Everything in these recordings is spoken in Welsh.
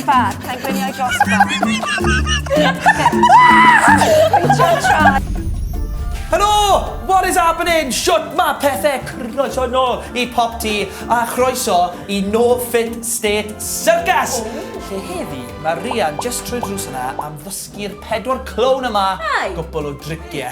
bar. Mae'n gwynio i dros y bar. Helo! What is happening? Shut ma pethau croeso nôl i Pop T a chroeso i No Fit State Circus! Oh. Lle heddi, mae Rian just trwy drws yna am ddysgu'r pedwar clown yma gwbl o driciau.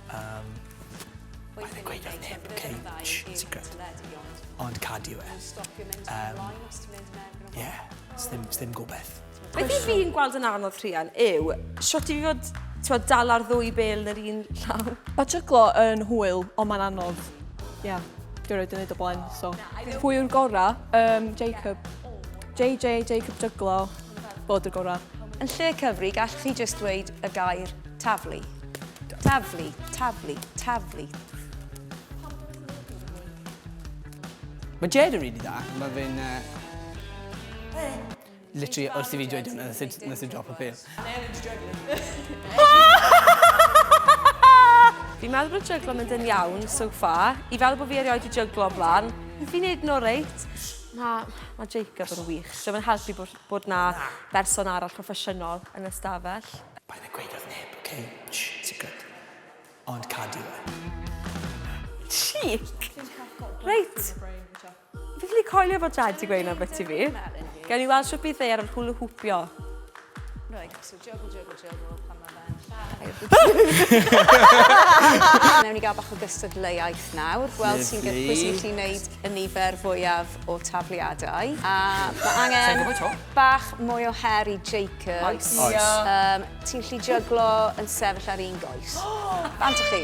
Yym, wnaeth e gweud wrth neb, ok? Shh, yn secret. Ond cadi yw e. Yym, ie, sdim, sdim gobeth. Beth i fi'n gweld yn anodd Rhian yw shwt i fi fod twa, dal ar ddwy bel yn yr un llaw. Mae tryglo yn hwyl, ond mae'n anodd. Ia, yeah. dwi'n rhaid i wneud o blaen, so. Pwy yw'r gorau? Um, Jacob. JJ, Jacob Tryglo, bod y gorau. Yn lle cyfri, gallwch chi just dweud y gair taflu. Taflu, taflu, taflu. Mae Jed yn rili dda. Mae fe'n... Uh, literally, wrth i fi dweud hwnna, nes i drop y pil. Fi'n meddwl bod jyglo mynd yn iawn so far. I fel bod fi erioed i jyglo blaen, fi'n neud no reit. Na, mae Jacob yn wych. So mae'n helpu bod Bod 'na berson arall proffesiynol yn y stafell. Paid a gweud wrth neb, ok? Shh, secret. Ond cadw e. Cheek! Reit. Fi ffili coelio fod Jad 'di gweud 'na ambyti fi. Gawn ni weld shwt bydd e ar yr hwlw hwpio. Jogl, jogl, jogl, pan mae fe'n lladd. Newn ni gael bach o gystadleuaeth nawr. Gweld sy'n gyd pwy sy'n gallu wneud y nifer fwyaf o tafliadau. A mae angen bach mwy o her i Jacobs. Oes. Oes. Um, ti'n gallu jyglo yn sefyll ar un goes. Bant o chi.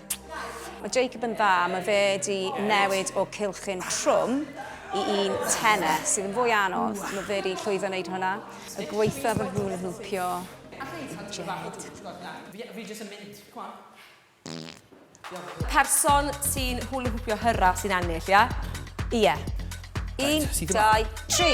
Mae Jacob yn dda, mae fe di newid o cylchyn trwm i un tene, sydd yn fwy anodd, mae fe di llwyddo wneud hwnna. Y gweitha fy nhw'n lwmpio i Jed. Fi jyst yn mynd, come on. Person sy'n hwlwhwpio hyrra sy'n ennill, ie? Ie. Un, dau, tri!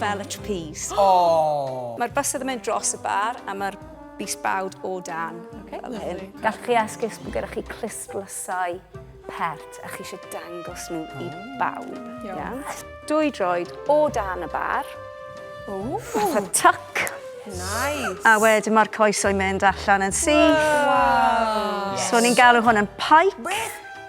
Fel y trapeze. Oh! Mae'r bysedd yn mynd dros y bar a mae'r bys bawd o dan. Okay, fel hyn. Gallwch chi esgus bod gyda chi clustlysau pert a chi eisiau dangos nhw i oh. bawb. Iawn. Dwy droed o dan y bar. Ooh. Fatha tuck. Nice. A wedyn mae'r coesau mynd allan yn syth. Wow. Yes. So ni'n galw hwn yn pike. Where?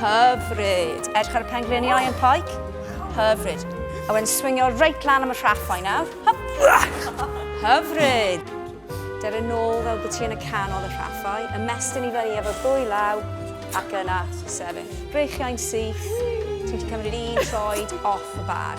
Hyfryd! Edrych ar y pengliniau yn Paik? Hyfryd. A wedyn swingio reit lan am y rhaffau nawr. Hyfryd! Dyr yn ôl fel bod ti yn y canol y rhaffau, ymestyn i fyny efo ddwy law, ac yna sefyll. Breichiau'n syth, ti wedi cymryd un troed off y bar.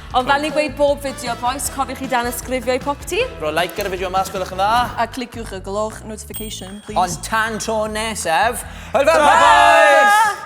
Ond fel ni'n gweud bob fideo bois, cofiwch i dan ysgrifio i popty. Rhoi like ar y fideo yma os gwelwch yn dda. A cliciwch y gloch notification, please. Ond tan tro nesaf, hwyl fawr bois!